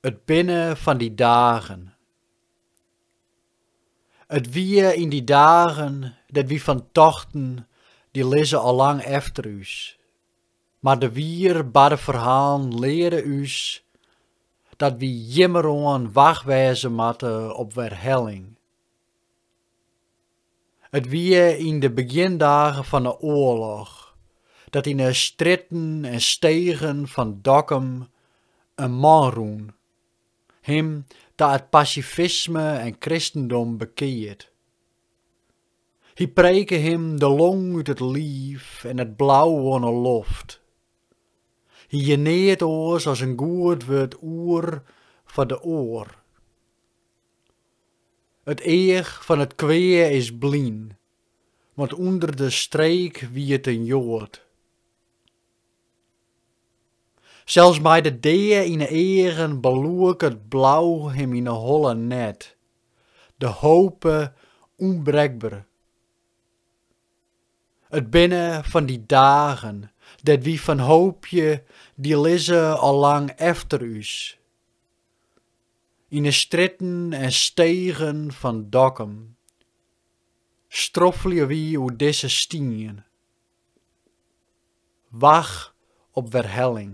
It binne fan dy dagen. It wie yn dy dagen dêr't wy fan tochten, dy lizze al lang efter ús. Mar de wier barde ferhalen leare ús dat wy jimmeroan wach wêze moatte op werhelling. It wie yn de begjindagen fan 'e oarloch dat yn 'e strjitten en stegen fan Dokkum in man rûn, him ta it pasifisme en kristendom bekeard. Hy preke him de long út it liif en it blau oan 'e loft. Hy hie neat oars as in goed wurd oer foar de oar. It each fan it kwea is blyn, want ûnder de streek wie it in Joad. Sels mei de dea yn 'e eagen beloek it blau him yn 'e holle net, de hope ûnbrekber. It binne fan dy dagen dêr't wy fan hoopje, dy lizze al lang efter ús. Yn 'e strjitten en stegen fan Dokkum stroffelje wy oer dizze stien. Wach op werhelling.